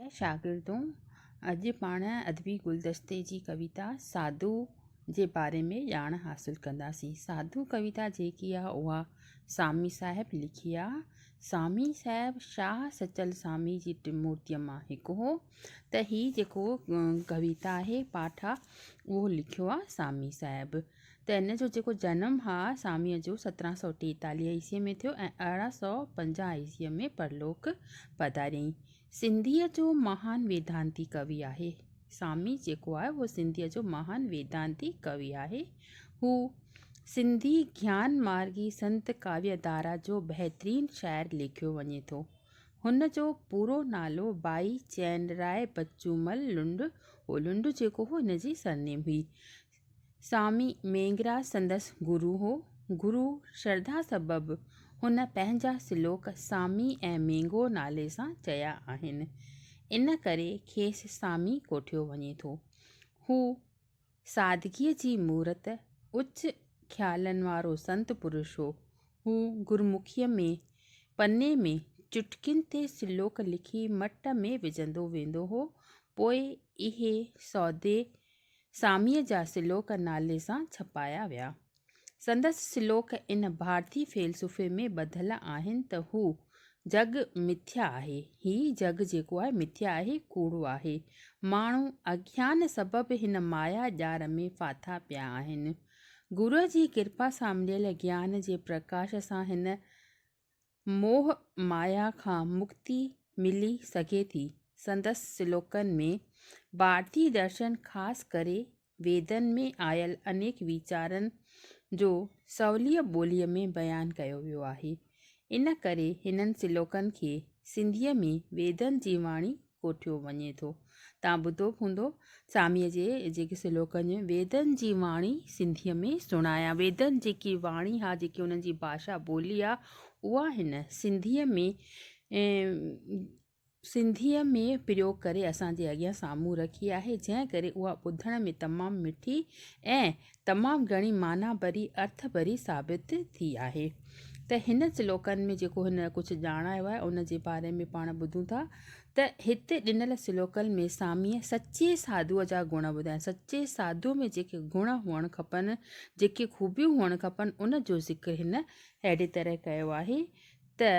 اي شاگردون! اڄ پاڻ ادبي گلدستي جي ڪويتا ساڌو جي باري ۾ ڄاڻ حاصل ڪنداسين. ساڌو ڪويتا جيڪي آهي اها سامي صاحب لکي آهي. سامي صاحب شاهه سچل سامي جي ٽن مورتين مان هڪ هو ته هي جيڪو ڪويتا آهي پاٺ آهي اهو لکيو آهي سامي صاحب ته ان جو جيڪو جنم آهي ساميء جو سترهن سؤ ٽيتاليهه عيسويء ۾ ٿيو ۽ ارڙهن سؤ پنجاهه عيسويء ۾ پرلوڪ پڌاريائين. سنڌيء جو مهان ويدانتي ڪوي آهي. سامي جيڪو آهي اهو سنڌيء جو مهان ويدانتي ڪوي آهي. هو سنڌي گيان مارگي سنت ڪاويه ڌارا جو بهترين شاعر ليکيو وڃي ٿو. هن جو پورو نالو ڀائي چين راء بچومل لنڊ هو. لنڊ جيڪو هو هن جي سرنيم هئي. سوامي مينگراج سندس گرو هو. گرو شرڌا سبب هن پنهنجا سلوڪ سوامي ۽ مينگو نالي سان چيا آهن. ان ڪري کيس سوامي ڪوٺيو وڃي ٿو. هو سادگيء جي مورت، اچ خيالن وارو سنت پرش هو. هو گرمکيء ۾ پني ۾ چٽڪين تي سلوڪ لکي مٽ ۾ وجهندو ويندو هو، پوء اهي سودي ساميء جا سلوڪ نالي سان ڇپايا ويا. سندس سلوڪ ان ڀارتي فيلسوفي ۾ ٻڌل آهن ته هو جڳ مٿيا آهي، هي جڳ جيڪو آهي مٿيا آهي، ڪوڙو آهي، ماڻهو اگيان سبب هن مايا ڄار ۾ ڦاٿا پيا آهن. گروء جي ڪرپا سان مليل گيان جي پرڪاش سان هن موهه مايا کان مڪتي ملي سگهي ٿي. سندس سلوڪن ۾، ڀارتي درشن خاص ڪري ويدن ۾ آيل انيڪ ويچارن جو سوليء ٻوليء ۾ بيان ڪيو ويو آهي. ان ڪري هنن سلوڪن کي سنڌيء ۾ ويدن جي واڻي ڪوٺيو وڃي ٿو. توهان ٻڌو به هوندو ساميء جي جيڪي سلوڪن ۾ ويدن جي واڻي سنڌيء ۾ سڻايان. ويدن جيڪي واڻي ها جيڪي انهن جي ڀاشا ٻولي آ اها هن سنڌيء ۾ سنڌيء ۾ پريوگ ڪري اسان جي اڳيان سامهون رکي آهي جنهن ڪري اها ٻڌڻ ۾ تمام مٺي ۽ تمام گهڻي معنيٰ ڀري ارٿ ڀري ثابت ٿي آهي ته هن سلوڪن ۾ جيڪو هن ڪجهه ڄاڻايو آهي ان جي باري ۾ پاڻ ٻڌون ٿا ته هتي ڏنل سلوڪن ۾ ساميء سچي ساڌوء جا گڻ ٻڌايا آهن سچي ساڌوء ۾ جيڪي گڻ هئڻ کپن جيڪي خوبيون هئڻ کپن ان جو ذڪر هن اهڙي طرح ڪيو آهي ته ته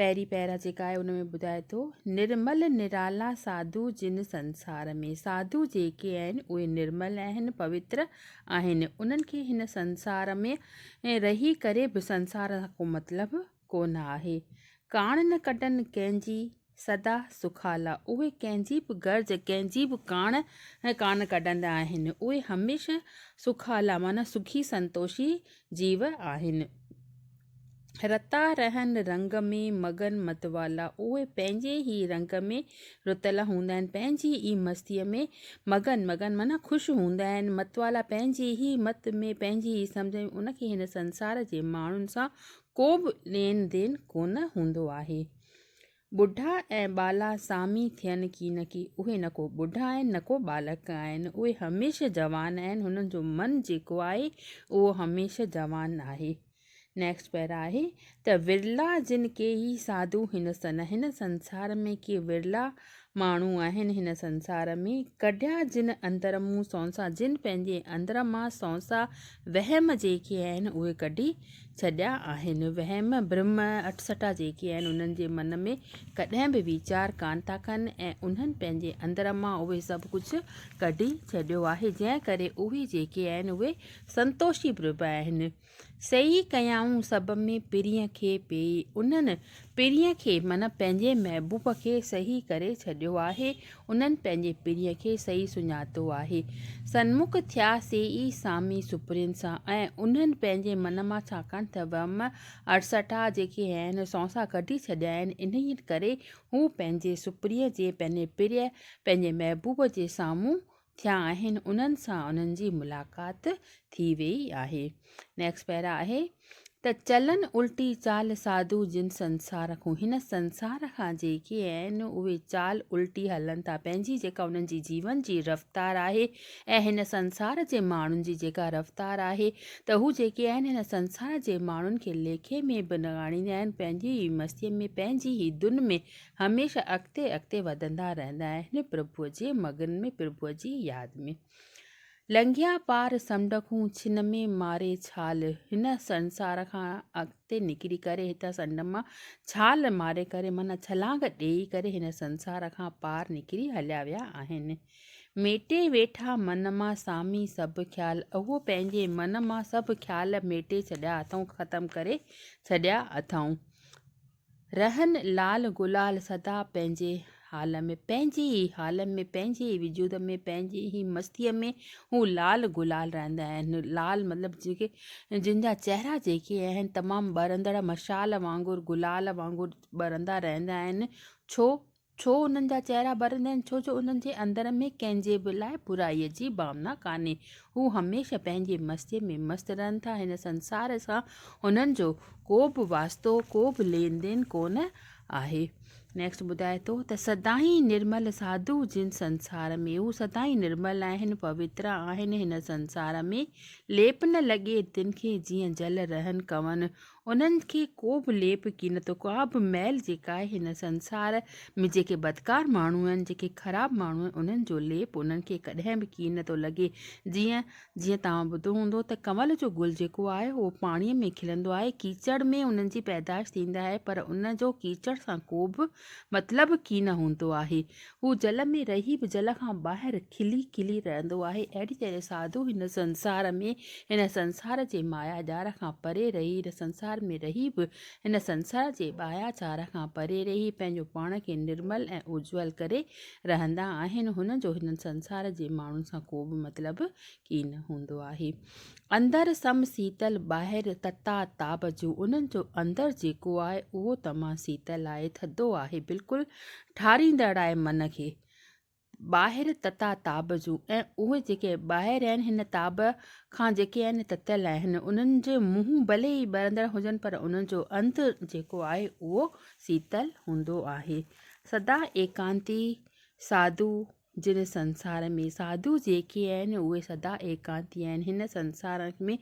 پهرين پيرا جيڪا آهي ان ۾ ٻڌائي ٿو نرمل نرالا ساڌو جن سنسار ۾، ساڌو جيڪي آهن اهي نرمل آهن، پوتر آهن، انهن کي هن سنسار ۾ رهي ڪري به سنسار سان ڪو مطلب ڪونه آهي، ڪاڻ نه ڪڍن ڪنهن جي. سدا سخالا، اهي ڪنهن جي به غرض، ڪنهن جي به ڪاڻ ڪانه ڪڍندا آهن. اهي هميشه سخالا معنيٰ سکي سنتوشي جيو آهن. رتا رهن رنگ ۾ مگن متوالا، اهي پنهنجي ئي رنگ ۾ رتل هوندا آهن، پنهنجي ئي مستيء ۾ مگن، مگن معنيٰ خوش هوندا آهن، متوالا پنهنجي ئي مت ۾، پنهنجي ئي سمجهه ۾، ان کي هن سنسار جي ماڻهن سان ڪو به لين دين ڪونه هوندو آهي. ٻڍا ۽ ٻالا سامي ٿين ڪي نه ڪي، اهي نه ڪو ٻڍا آهن نه ڪو ٻالڪ آهن، اهي هميشه جوان آهن، هنن جو من جيڪو آهي اهو هميشه جوان آهي. Next Para آهي ته ورلا جن ڪي ئي ساڌو هن سن، هن سنسار ۾ ڪي ورلا ماڻهو آهن هن سنسار ۾، ڪڍيا جن اندر مون سونسا جن پنهنجي اندر مان سونسا وهم جيڪي آهن اهي ڪڍي ڇڏيا آهن. وهم، برم، اٽسٽا جيڪي آهن انهن جي من ۾ ڪڏهن به ويچار ڪانه ٿا ڪن ۽ انهن پنهنجي اندر مان اهي سڀ ڪجهه ڪڍي ڇڏيو آهي جنهن ڪري اهي جيڪي آهن اهي سنتوشي بربه آهن. سيئي ڪيائون سڀ ۾ پرينء کي پيئي. انهن پرينء کي من پنهنجي محبوب کي سهي ڪري ڇڏيو آهي. انهن پنهنجي پرينء کي سهي سڃاتو آهي. سنمک ٿيا سيئي سامي سپرين سان ۽ انهن پنهنجي من مان ڇاڪاڻ ته وهم اڙسٽا جيڪي هين سونسا ڪڍي ڇڏيائين انهيء ڪري هو پنهنجي سپرينء جي پنهنجي پرينء پنهنجي محبوب جي سامهون ٿيا آهن انهن سان انهن جي ملاقات ٿي ويئي آهي نيڪسٽ پيرا آهي ته چلن الٽي چال ساڌو جن سنسار کون هن سنسار کان جيڪي آهن اهي چال الٽي هلن ٿا پنهنجي جيڪا انهن جي جيون جي رفتار آهي ۽ هن سنسار جي ماڻهن جي جيڪا رفتار آهي ته هو جيڪي آهن هن سنسار جي ماڻهن کي ليکي ۾ به نه آڻيندا آهن پنهنجي ئي مستيء ۾ پنهنجي ئي ڌن ۾ هميشه اڳتي اڳتي وڌندا رهندا آهن پرڀوء جي مگن ۾ پرڀوء جي ياد ۾. لنگهيا پار سمنڊ کون ڇن ۾ ماري ڇال هن سنسار کان اڳتي نڪري ڪري هتان سنڊ مان ڇال ماري ڪري معنيٰ ڇلانگ ڏيئي ڪري هن سنسار کان پار نڪري هليا ويا آهن. ميٽي ويٺا من مان سامي سڀ خيال اهو پنهنجي من مان سڀ خيال ميٽي ڇڏيا اٿئون ختم ڪري ڇڏيا اٿئون رهن لال گلال سدا پنهنجي حال ۾، پنهنجي ئي حال ۾، پنهنجي ئي وجود ۾، پنهنجي ئي مستيء ۾ هو لال گلال رهندا آهن. لال مطلب جيڪي جن جا چهرا جيڪي آهن تمام ٻرندڙ مشعال وانگر، گلال وانگر ٻرندا رهندا آهن. ڇو؟ ڇو انهن جا چهرا ٻرندا آهن؟ ڇو جو انهن جي اندر ۾ ڪنهن جي به لاء برائي جي ڀاونا ڪانهي. هو هميشه پنهنجي مستيء ۾ مست رهن ٿا. هن سنسار سان هنن جو ڪو به واسطو، ڪو به لين دين ڪونه آهي. Next ٻڌائي ٿو ته سدائين نرمل ساڌو جن سنسار ۾، هو سدائين نرمل آهن، پوتر آهن، هن سنسار ۾ ليپ نه لڳي، تن کي جيئن جل رهن ڪون، انهن کي ڪو به ليپ قينتو ڪابه ميل جيڪا آهي هن سنسار ۾ جيڪي بدڪار ماڻهو آهن جيڪي خراب ماڻهو آهن انهن جو ليپ انهن کي ڪڏهن به ڪين ٿو لڳي جيئن جيئن توهان ٻڌو هوندو ته ڪنول جو گل جيڪو آهي اهو پاڻي ۾ کلندو آهي ڪيچڙ ۾ انهن جي پيدائش ٿيندي آهي پر ان جو ڪيچڙ سان ڪوبه مطلب ڪين هوندو آهي هو جل ۾ رهي به جل کان ٻاهر کلي کلي رهندو آهي. اهڙي طرح ساڌو هن سنسار ۾ هن سنسار جي مايا جال کان پري رهي، هن سنسار ۾ رهي به هن سنسار جي ٻايا جال کان پري رهي پنهنجو پاڻ کي نرمل ۽ اجول ڪري رهندا آهن. هنن جو هن سنسار جي ماڻهن سان ڪو به مطلب ڪين هوندو آهي. اندر سم سيتل ٻاهر تتا تاب جون انهن جو اندر جيڪو آهي اهو تمام سيتل آهي ٿڌو آهي بلڪل ٺاريندڙ آهي من کي ٻاهر تتا تاب جون ۽ اهي جيڪي ٻاهر آهن هن تاب کان جيڪي آهن تتل آهن انهن جي منهن ڀلي ئي ٻرندڙ هجن پر انهن جو اندر جيڪو آهي اهو سيتل هوندو آهي سدا ايڪانتي ساڌو جن سنسار ۾ ساڌو جيڪي آهن، اهي سدا ايڪانتي آهن. هن سنسار ۾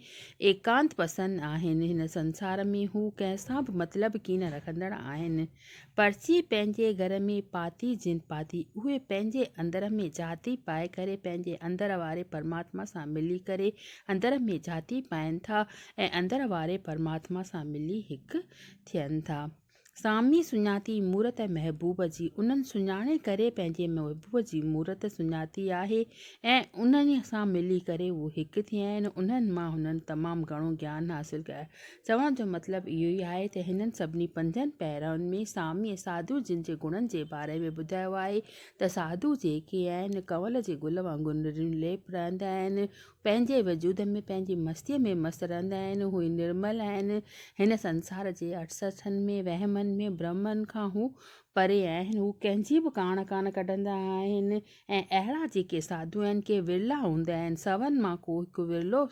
ايڪانت پسند آهن. هن سنسار ۾ هو ڪنهن سان به مطلب ڪين رکندڙ آهن. پرچي پنهنجي گهر ۾ پاتي جن پاتي، اهي پنهنجي اندر ۾ جهاتي پائي ڪري پنهنجي اندر واري پرماتما سان ملي ڪري اندر ۾ جهاتي پائين ٿا ۽ اندر واري پرماتما سان ملي هڪ ٿين ٿا. سامي سڃاتي مورت محبوب جي، انهن سڃاڻي ڪري پنهنجي محبوب جي مورت سڃاتي آهي ۽ انهيء سان ملي ڪري هو هڪ ٿيا آهن، انهن مان هنن تمام گهڻو گيان حاصل ڪيو آهي. چوڻ جو مطلب اهو ئي آهي ته هنن سڀني پنجن پيرائن ۾ ساميء ساڌوء جن جي گڻن جي باري ۾ ٻڌايو آهي ته ساڌو جيڪي آهن، ڪنول جي گل وانگر نريون ليپ رهندا آهن، پنهنجي وجود ۾ پنهنجي مستيء ۾ مست رهندا آهن، هو نرمل آهن، هن سنسار جي اٽسٺن ۾ وهمن ۾ برهمن کان هو پري آهن، هو ڪنهن جي به ڪاڻ ڪانه ڪڍندا آهن ۽ اهڙا جيڪي ساڌو آهن ڪي ورلا هوندا آهن، سون مان ڪو هڪ ورلو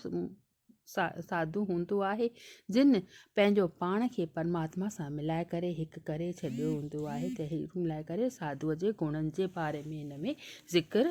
ساڌو هوندو آهي جن پنهنجو پاڻ کي پرماتما سان ملائي ڪري هڪ ڪري ڇڏيو هوندو آهي ته هي ملائي ڪري ساڌوء جي گڻن جي باري ۾ هن ۾ ذڪر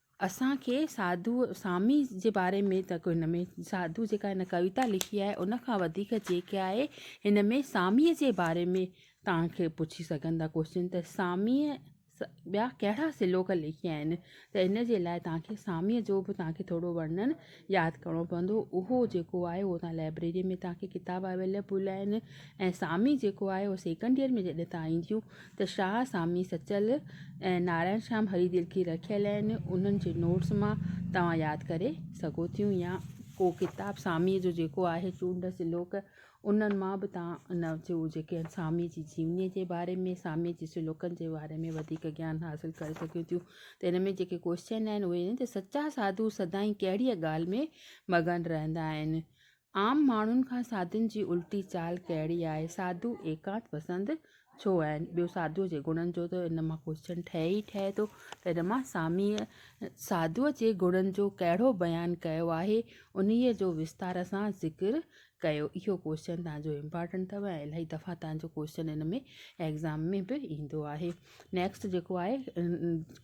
اسان کي ساڌوء سامي جي باري ۾ ته ڪو هن ۾ ساڌوء جيڪا هن ڪويتا لکي آهي ان کان وڌيڪ جيڪي آهي هن ۾ ساميء جي باري ۾ تان کي پڇي سگهن ٿا ڪوشچن ته ساميء ٻيا ڪهڙا سلوڪ لکيا آهن ته ان جي لاء تان کي ساميء جو به تان کي ٿورو ورنن ياد ڪرڻو پوندو اهو جيڪو آهي اهو تان لائبريري ۾ تان کي ڪتاب اويليبل آهن ۽ سامي جيڪو آهي اهو سيڪنڊ ايئر ۾ جڏهن تان اينديون ته شاهه سامي سچل ۽ نارائڻ شيام هري دل ڪي رکيل آهن انهن جي نوٽس مان توهان ياد ڪري سگهو ٿيون يا ڪو ڪتاب سامي جو جيڪو آهي چونڊ سلوڪ انهن مان به توهان ان جو جيڪي آهن ساميء جي جيونيء جي باري ۾ ساميء جي سلوڪن جي باري ۾ وڌيڪ گيان حاصل ڪري سگهيون ٿيون ته ان ۾ جيڪي ڪوشچن آهن اهي آهن ته سچا ساڌو سدائين ڪهڙيء ڳالهه ۾ مگن رهندا آهن؟ عام ماڻهن کان ساڌن جي الٽي چال ڪهڙي آهي؟ ساڌو ايڪانت پسند ڇو آهن؟ ٻيو ساڌوء جي گڻن جو ته ان مان ڪوشچن ٺهي ئي ٺهي ٿو ته ان مان ساميء ساڌوء جي گڻن جو ڪهڙو بيان ڪيو آهي؟ انهيء جو وستار سان ذڪر ڪيو اهو ڪوشچن تنهن جو امپارٽنٽ اٿو ۽ الاهي دفعا تنهن جو ڪوشچن ان ۾ ايگزام ۾ به ايندو آهي نيڪسٽ جيڪو آهي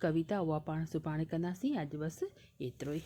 ڪويتا اها پاڻ سڀاڻي ڪنداسين اڄ بس ايترو ئي